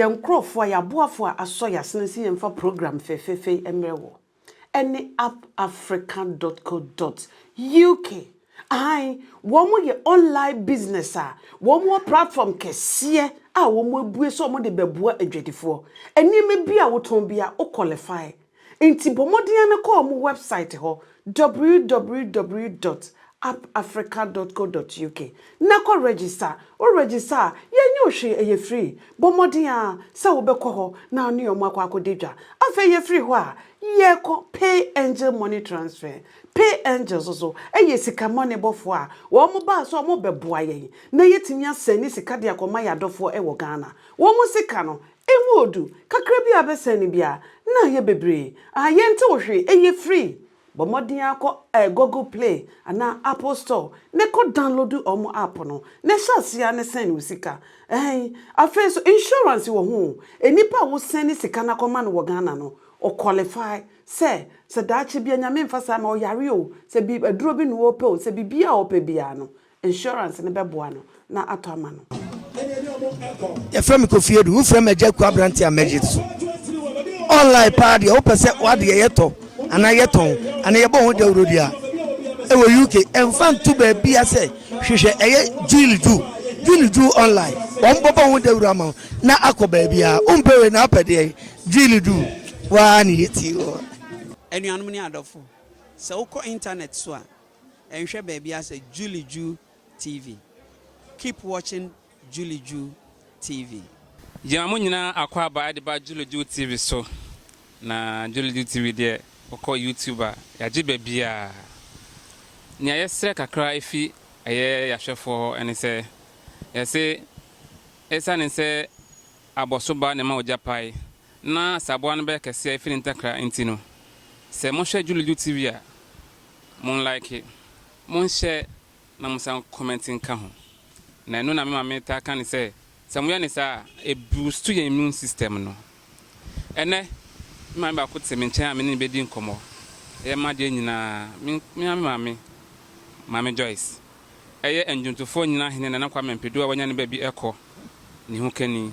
yɛn nkurɔfoɔ a yɛaboafoɔ a asɔ yɛn asene sɛ yɛmfa program fɛfɛɛfɛ mmerɛ wɔ ɛne appafrica.co.uk ahan wɔn yɛ online business a wɔn wɔ platform kɛseɛ a wɔn abue sɛ wɔn de bɛboa adwadifoɔ nneɛma bi a wotɔn bi a wo qualify Enti bɔ mmɔden ara na kɔ wɔn wɛbsaet hɔ, www dot appafrica dot co dot uk, na kɔ rɛgyista. Worɛgyista a, yɛnyɛ wo hwee, ɛyɛ firii. Bɔ mmɔden ara sɛ wobɛkɔ hɔ na wo ne wɔn akɔ akɔdi dwa. Afei yɛfiri hɔ a, yɛkɔ Pay Angel Money Transfer. Pay Angel nso so yɛ sikamɔnebɔfoɔ a wɔbaa sɛ wɔrebɛboa yɛn na yɛatumi asɛne sika de akɔma yɛn adɔfoɔ wɔ Ghana. Wɔn sika no, Emu odu kakra bi a abɛsɛe no biara na ayɛ bebree a yɛntew hwee ɛyɛ free. Bɔ mmɔden ara kɔ Google Play anaa Apple Store ne kɔ download wɔn app no na hyɛ aseɛ ara ne sɛn wo sika. Ɛɛn, afei nso insurance wɔ ho o, nipa a wo sɛne sika no akɔma no wɔ Ghana no ɔ qualify sɛ sɛ daakye bi a Nyame mfa saa mma wo yare o, sɛ bi aduro bi na ɔɔpɛ o, sɛ biribiara a ɔɔpɛ biara no Insurance no bɛboa no na atɔ ama no. Yɛfrɛ me Kofi Adu. Wofrɛ me Agya Aku aberante a mɛgye so. Online paa deɛ wopɛ sɛ w'adeɛ yɛtɔ anaa yɛtɔn anaa yɛbɔ ho dawurodi a ɛwɔ UK ɛmfa nto baabia sɛ hwehwɛ ɛyɛ Jil Ju Jil Ju online wɔn bɔbɔ ho dawuro ama wo na akɔ baabia wompɛ wei na apɛ deɛ Jil Ju waa ne yɛti wɔ. Anuanom ne adɔfo, sɛ wokɔ intanɛt so a, Nhwɛ baabi ara sɛ Julie Ju TV. Keep watching Julie Ju TV. Gyama mo nyinaa akwaaba ɛde ba Julie Ju TV so. Na Julie Ju TV deɛ wokɔ YouTube a yagye baabiaa. Nea yɛsrɛ kakra efi ɛyɛ yahwɛfoɔ hɔ ɛne sɛ yɛse ɛsiane sɛ abɔso ba na ɛma ogya pae na saboa no bɛyɛ kɛseɛ ɛfiri ne ntakra nti no sɛ mohwɛ Julijo TV a mon like mon share na mo san comment nka ho na ɛno na me maame taa ka ne sɛ sɛ moyɛ ne saa a ɛboost yɛn immune system no ɛnɛ me maame baako te me nkyɛn a me ne no bɛdi nkɔmmɔ yɛ ma deɛ nyinaa me me maame maame maame Joyce ɛyɛ ndwontofoɔ nyina hene Nana Kwame Mpedu a wanya ne baabi ɛkɔ ne ho kani.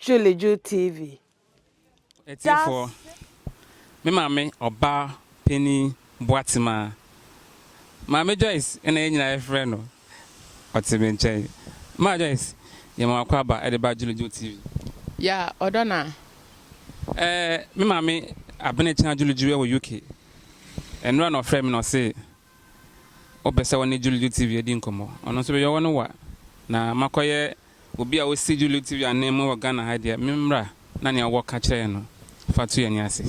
Julijuli TV. Atiefoɔ, me maame ɔbaa panin Boatema, Maame Joyce na yɛn nyinaa yɛfrɛ no, ɔte me nkyɛn. Maa Joyce, yɛma wo akwaaba de ba Julijuli TV. Ya ɔdɔ no a. Eh, me maame Abenekya Julijuli wɔ UK. Nnora na ɔfrɛɛ me na ɔse ɔpɛ sɛ ɔne Julio TV di nkɔmmɔ. Ɔno nso bɛyɛ ɔno wa. Na makɔyɛ obi a ɔsi Julio TV ananmu wɔ Ghana ha deɛ, memmra na nea ɔwɔ ka kyerɛ yɛn no, fa to yɛn ani ase.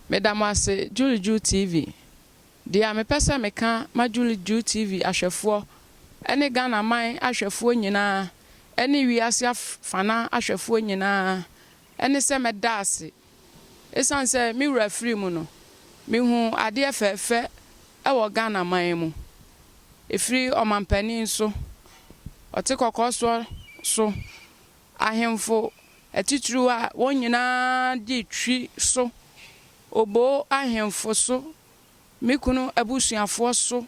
Meda mo ase Julio TV. Deɛ mepɛ sɛ meka ma Julio TV ahwɛfoɔ ne Ghana man ahwɛfoɔ nyinaa ne wiase afana ahwɛfoɔ nyinaa ne sɛ mɛda ase Esiane sɛ me wura firii mu no, mehuu adeɛ fɛɛfɛ wɔ Ghana man mu. Ɛfiri ɔmampanin so, ɔte kɔkɔɔ soɔ so, ahemfo atitiriw a wɔn nyinaa de twi so, Oboo ahemfo so, me kunu abusuafoɔ so,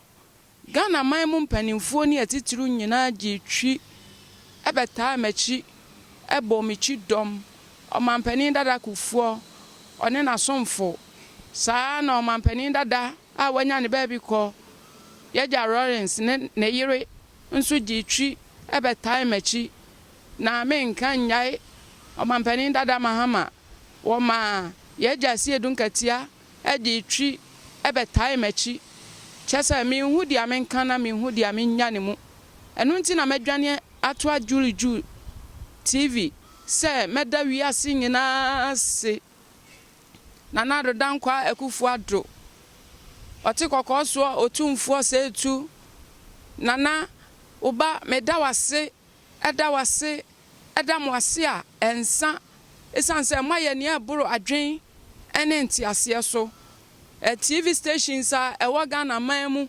Ghana man mu mpanimfoɔ ne atitiriw nyinaa gyee twi bɛtaa m'akyi bɔɔ me kyidɔm. Ɔmampanin dada Kufuor, ɔne n'asomfo, saa ara na ɔmampanin dada a wanya ne baabi kɔ, Y'agya Rawlings ne ne yere nso gyee twi bɛtaa m'akyi, na menka nnyae Ɔmampanin dada Mahama, wɔmaa Y'agya Asiedu Nkatia de retwi bɛtae m'akyi, kyerɛ sɛ, minhu deɛ menka na minhu deɛ menya ne mu. Ɛno nti na madwane atoa Julie Ju TV sɛ mɛda wiase nyinaa ase. Nana Addo Dankwa Akuffo Addo, Ɔte Kɔkɔɔ Soɔ Otumfoɔ Seitu Nana, wo ba, meda wo ase Ɛda wo ase, ɛda mo ase a ɛnsa esiane sɛ moayɛ nea ɛboro adwene ne nteaseɛ so. TV stations a ɛwɔ Ghana man mu,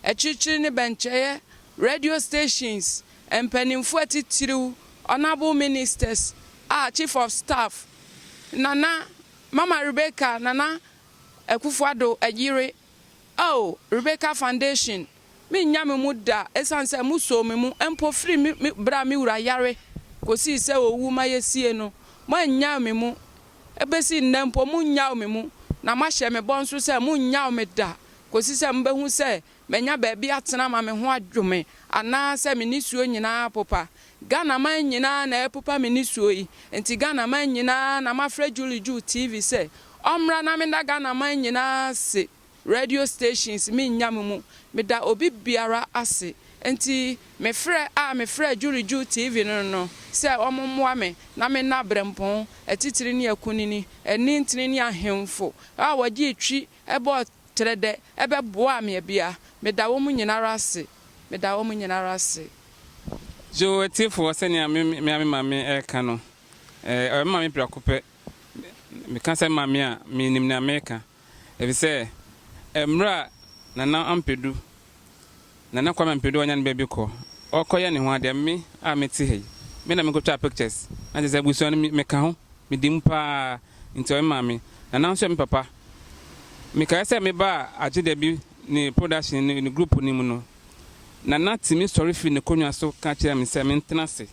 akyirikyiri ne bɛnkyɛeɛ, radio stations, mpanimfoɔ atitiriw, honourable ministers a Chief of Staff, Nana, Mama Rebecca Nana Akufo-Addo yere, oh, Rebecca Foundation, Mennya me mu da esiane sɛ mosoo me mu mpo firi me bere a me wura yare kosii sɛ owu ma yesiee no. Moannyaw me mu. Ebesi nnɛ mpo munnyaw me mu, na moahyɛ me bɔ nso sɛ munnyaw me da kosi sɛ mubehu sɛ manya baabi atena ama me ho adwo me anaasɛ me nisuo nyinaa apopa. Ghanaman nyinaa na ɛrepopa me nisuo yi nti Ghanaman nyinaa na mafrɛ Julie Ju TV sɛ ɔmmra na menna Ghanaman nyinaa ase. Radio stations me nnya me mu me da obi biara ase nti me frɛ a me frɛ Jurijuu TV no no sɛ ɔmo mmoa me na me nna Brempɔn atitire ne akunini ani ntene ne ahenfo a wɔgye etwi bɔɔ trɛ dɛ ɛbɛ boaa me abia me da wɔmo nyinara ase me da wɔmo nyinara ase. Joe atiefoɔ sɛnea me me mea me maame reka no ɛɛ ɔyɛ me maame prɛko pɛ me ka sɛ maame a me nim nea meka. Efisɛ mmerɛ a Nana Ampedu, Nana Kwame Ampedu a ɔnya ne ba bi kɔ, ɔrekɔyɛ ne ho adeɛ, me a mete ha yi, me na mekɔtwaa pictures, na kyerɛ sɛ abusua no meka ho, medi mu pa ara, nti ɔyɛ maa me. Nana nso yɛ me papa. Mekaeɛ sɛ mebaa Agyedabi ne production no, ne group no mu no, Nana tumi sɔre firi n'akonwa so ka kyerɛɛ me sɛ mentena ase.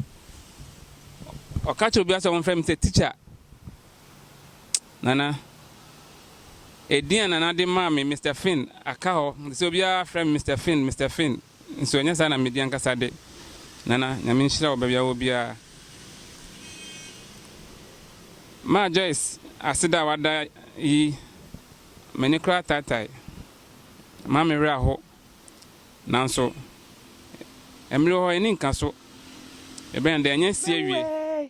Ɔka kyerɛ obiara sɛ wɔmfrɛ me sɛ teacher, Nana, edin a Nana de maa me, Mister Finn, aka hɔ te sɛ obiara frɛ me Mister Finn, Mister Finn, nso ɛnyɛ saa na medi ankasa de. Nana, Nyame nhyira wo baabi a wowɔ biara. Maa Joyce aseda a wada yi, m'ani koraa taatae. Ɛma me werɛ ahow. Nanso, mmere wɔ hɔ a enni nka so. Ebɛn dɛ, ɛnyɛ sie awie.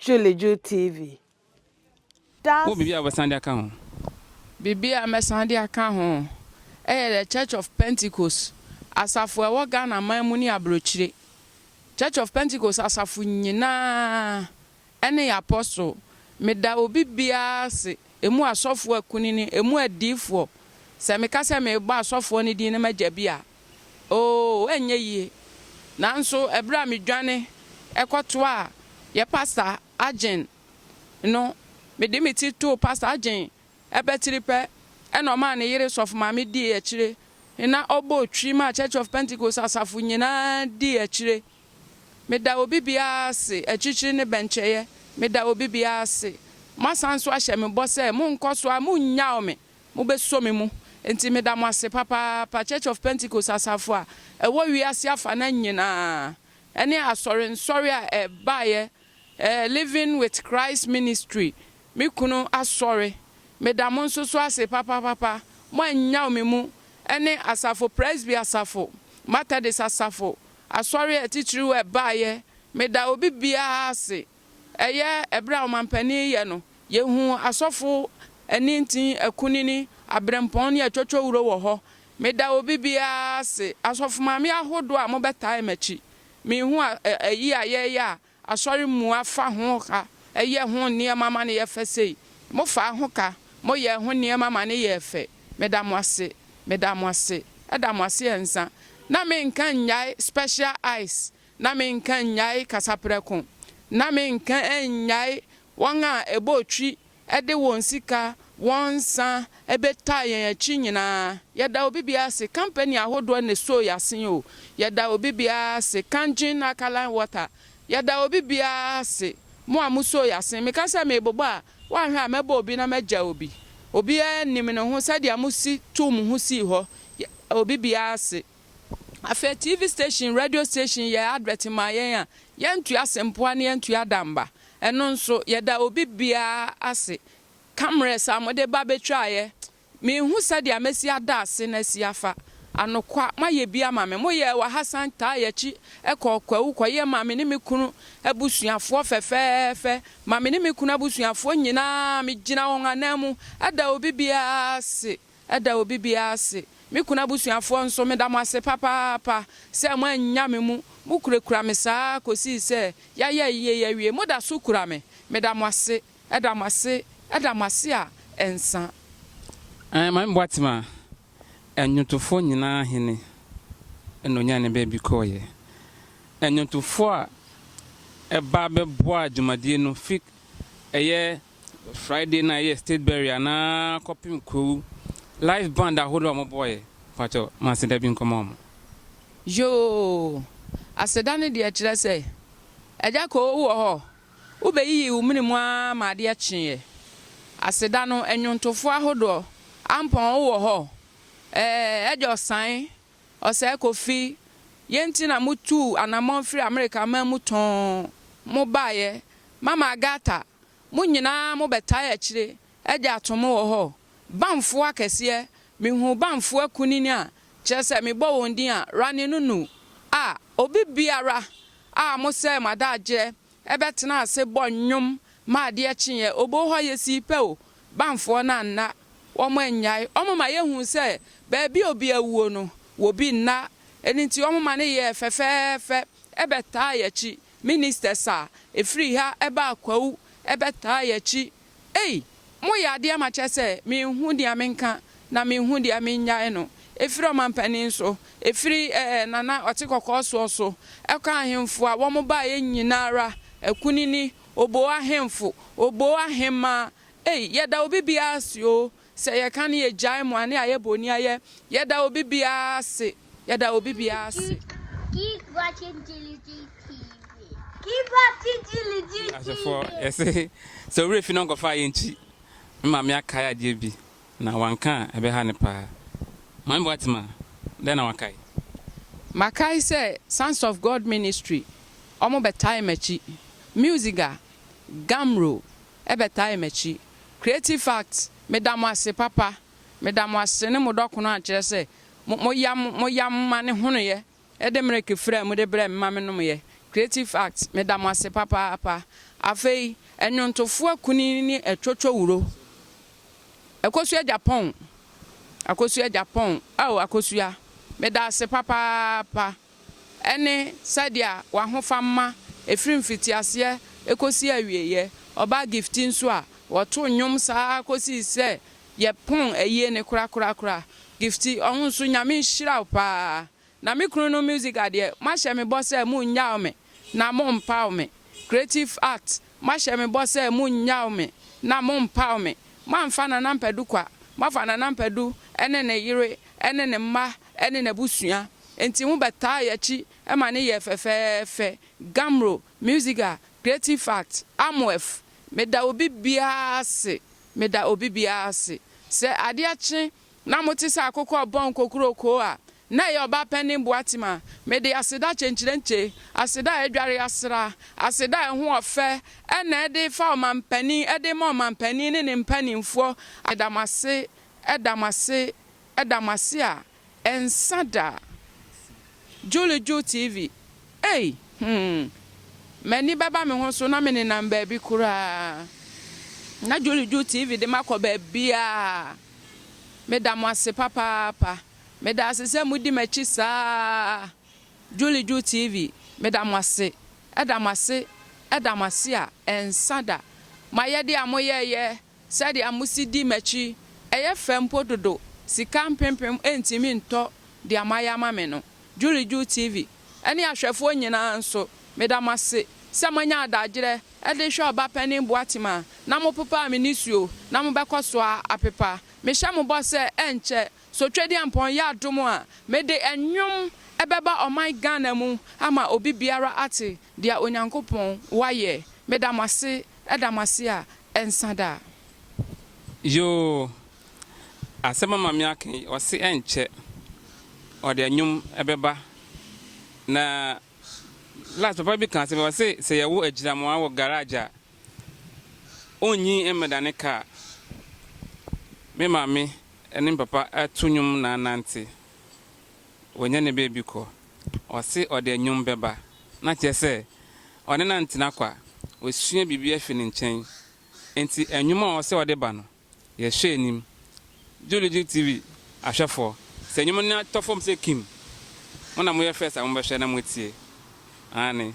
Julijuli TV, Wowɔ biribi a das. wobɛsan de aka ho? Biribi a mɛsan de aka ho yɛ The Church of Pentecost asafo a ɛwɔ Ghana man mu ne aburokyire. Church of Pentecost asafo nyinaa ne yɛn apɔstol. Meda obi biara ase, ɛmu asɔfoɔ akunini, ɛmu adiyifoɔ. Sɛ meka sɛ merebɔ asɔfoɔ no din na magya bi a, Oo, ɛrenyɛ yie. Nanso ɛberɛ a medwane kɔtoaa yɛ Pasta Adjen no, mede me ti too Pasta Adjen abatiri pɛ na ɔmaa ne yere Sɔfo Maame dii akyire na ɔbɔɔ twi maa Church of Pentecost asafo nyinaa dii akyire. Meda obi biara ase, akyikyiri ne bɛnkyɛeɛ, meda obi biara ase. Moasan nso ahyɛ me bɔ sɛ morenkɔ so a morennyaw me. Mobɛsɔ me mu, enti meda mo ase papaapa. Church of Pentecost asafo a ɛwɔ wiase afanan nyinaa, ɛne asɔre nsɔre a ɛbaeɛ, ɛɛ, Living with Christ Ministry, me kunu asɔre, meda mo nso so ase papapapa. Moannyaw me mu, ɛne asafo, Presby asafo, Methodist asafo, asɔre atitiriw a ɛbaeɛ, meda obi biara ase. Ɛyɛ ɛberɛ a ɔmanpanin yɛ no, yɛhu asɔfo anintin, akunini, aberempɔn ne atwotwowuro wɔ hɔ. Meda obi biara ase, asɔfo maame ahodoɔ a mobɛtae m'akyi. Mehu a ayi a yɛreyɛ a asɔre mua fa ho ka, yɛ ho nneɛma ma no yɛ fɛ sei. Mofaa ho ka, moyɛɛ ho nneɛma ma no yɛɛ fɛ. Meda mo ase. Meda mo ase. Ɛda mo ase ansa. Na menka nnyae special ice. na menka nnyae kasaprɛko, na menka nnyae wɔn a ɛbɔɔ twi de wɔn sika, wɔn nsa bɛtaa yɛn akyi nyinaa. Yɛda obi biara ase, kampani ahodoɔ na ɛsoo yɛn ase o, yɛda obi biara ase, Kangin Alkaline Water, yɛda obi biara ase, mo a mosoo yɛn ase. Meka sɛ merebobɔ a, woanhwɛ a mɛbɔ obi na magya obi. Obiara nim ne ho sɛdeɛ mosi too mo ho sii hɔ. Yɛda obi biara ase. Afei TV station, radio station yɛ advert ma yɛn a, yɛntua Asempoa na yɛntua Adamba. Ɛno nso, yɛda obi biara ase. Cameras a mode ba betwaeɛ, menhu sɛdeɛ mɛsi ada ase na asi afa. Anokwa, moayɛ bi ama me. Moyɛɛ wɔ ha san taa yɛn akyi kɔɔ Kwawu kɔyɛɛ ma me ne me kunu abusuafoɔ fɛfɛɛfɛ, ma me ne me kunu abusuafoɔ nyinaa, megyina wɔn ananmu da obi biara ase. Ɛda obi biara ase. Me kunu abusuafoɔ nso, meda mo ase papaapa sɛ moannya me mu. Mokurakura me saa ara kɔsii sɛ yɛayɛ ayie yi awie. Moda so kura me. Meda mo ase. Ɛda mo ase. Ɛda mo ase a ɛnsa. Ae Maame Boatema, Nnwontofoɔ nyinaa Hene na ɔnyaa ne baabi kɔeɛ. Nnwontofoɔ a ɛbaa bɛboaa dwumadie no fi ɛyɛ. Friday na ɛyɛ state burial na kɔpem kurow live band ahorow a ɔmo bɔɔɛ pakyɛw ma aseda bi nkɔma ɔmo. Yoo aseda no deɛ kyerɛ sɛ agya koo wowɔ hɔ wo bɛ yiyi wo mene mu aa ma adeɛ kyeeɛ aseda no ɛnwontofoɔ ahodoɔ ampɔn wowɔ hɔ ɛɛ agya ɔsane ɔsɛɛ kofi yɛ nti na mo tuu anamɔn firi Amerika man mu tɔɔn mo baayɛ mama Agatha Mo nyinaa mo bɛ tae akyire de ato mo wɔ hɔ, Bamfoɔ akɛseɛ, me huu Bamfoɔ akunini a, kyerɛ sɛ me bɔ wɔn din a, Rani no nu, a, obi biara a mo sɛe mo adagyeɛ ɛbɛ tena ase bɔ nnwom ma adeɛ kyeeɛ, oboo hɔ yɛ sii pɛ o, Bamfoɔ no anna, wɔn annyae, wɔn ma yɛ huu sɛ baabi a obi awuo no, wɔ bi nna, ɛno nti wɔn ma no yɛɛ fɛfɛɛfɛ bɛ tae akyire, Ministers a ɛfiri ha ɛba Akwawu ɛbɛtaa yɛ akyi ei mo yɛ adeɛ ma kyɛ sɛ me nhu deɛ me nka na me nhu deɛ me nnyae no ɛfiri ɔmanpanin so ɛfiri ɛɛ Nana Ɔtekɔkɔɔ soɔ so ɛkɔ ahenfo a wɔn baeɛ nyina ara Akunini Oboo ahenfo Oboo ahenmaa ei yɛda obi biara ase oo Sɛ yɛka ne yɛgyae mmoane a yɛbɔ ni ayɛ, yɛda obi biara ase, yɛda obi biara ase. Keep watching Giligi TV. Keep watching Giligi TV. Asefoɔ yɛse sɛ owura fi no nkɔfa ayɛ nkyi. Me maame akae adeɛ bi na wanka a ɛbɛha no paa. Maame Boatima, dɛn na wakae? Makae sɛ Sons of God Ministry wɔbɛtae m'akyi. Musiga, Gamro, ɛbɛtae makyi. Creative fact, Meda mo ase papa. Meda mo ase ne mo dɔkono a kyerɛ sɛ mo mo yam mo yam ma ne honoyɛ ɛde mereke firi a mude brɛ me ma me nomeɛ. Creative fact, Meda mo ase papaapa. Afei ɛnwontofoɔ akunini ne ɛtwotwo wuro. Akosua Japan, Akosua Japan, ao Akosua, meda ase papaapa. ɛne sɛdeɛ w'ahofamma ɛfiri mfitiaseɛ kɔsi awieɛ, ɔbaa Gifty nso a ɔto nnwom saa ara kɔsi sɛ yɛpɔn ayie no korakorakora, Gifty ɔho nso Nyame nhyira wo pa ara, na me kunu no Musica deɛ moahyɛ me bɔ sɛ monnyaw me na mompaw me, Creative Arts Mahyɛ me bɔ sɛ monnyaw me na mompaw me. Moamfa Nana Mpadu kwa. Moafa Nana Mpadu ne ne yere ne ne mma ne n'abusua. Enti mobɛtaa yɛn akyi ma ne yɛɛ fɛfɛɛfɛ. Gamro, Musiga, Creative Fact, Amoef. Meda obi biara ase, meda obi biara ase. Sɛ adeɛ kye Na mote sɛ akokɔ a ɔbɔn kokurokoo a na ɛyɛ ɔbaa panyin boatem a, mede aseda kyenkyerenkye, aseda a adware asra, aseda a ɛho ɔfɛ na ɛde refa ɔmampanin, ɛde rema ɔmampanin ne ne mpanimfoɔ, meda mo ase, da mo ase, da mo ase a ɛnsa da. Julie Ju TV, Ei! Hmm! M'ani bɛba me ho so na menenam baabi koraa. Na Julie Ju TV de makɔ baabiara. Meda mo ase papaapa. Meda ase sɛ modi m'akyi saa. Juliju TV, meda mo ase. Ɛda mo ase, ɛda mo ase a ɛnsa da. Mo ayɛdeɛ a moyɛeɛ, sɛdeɛ mosi di m'akyi, ɛyɛ fɛ mpo dodo, sika mpempem ntumi ntɔ deɛ moayɛ ama me no. Juliju TV, ne ahwɛfoɔ nyinaa nso, meda mo ase sɛ moanya adagyeɛ de rehwɛ Ɔbapanin Boatim a na mopepaa me nisuo na mobɛkɔ so ara apepa. Mehyɛ mo bɔ sɛ ɛnkyɛ Sotwediampɔn yɛ adom a mede nnwom bɛba ɔman Ghana mu ama obi biara ate deɛ Onyankopɔn wayɛ. Meda mo ase da mo ase a ɛnsa da. Yoo, Asɛm a Maame aka yi, ɔse ɛnkyɛ ɔde anwom bɛba. Na last papa bi ka asɛm bi, ɔse sɛ yɛwo agyinamoa wɔ garage a, onnyi mmɛdane kaa. Me maame ne me papa to nnwom na anante. Wɔanya ne baabi kɔ. Ɔse ɔde anwom bɛba. Na kyerɛ sɛ, ɔne no antena kwa. Ɔsua biribi afi ne nkyɛn. Enti anwom a ɔse ɔde ba no, Yɛhwɛ anim. Juligen TV ahwɛfoɔ, sɛ nnwom no tɔ fam sɛ kim, mo na moyɛ first a mobɛhwɛ na moatie. Aane.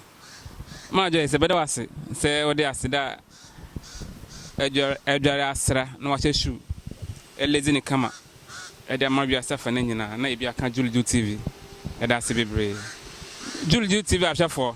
Maa Joyce, yɛbɛda wo ase sɛ wode aseda a adware asra na wahyɛ shoe ɛlezi no kama de ama wiase afa no nyinaa na ebi aka Juligen TV. Yɛda ase bebree. Juligen TV ahwɛfoɔ.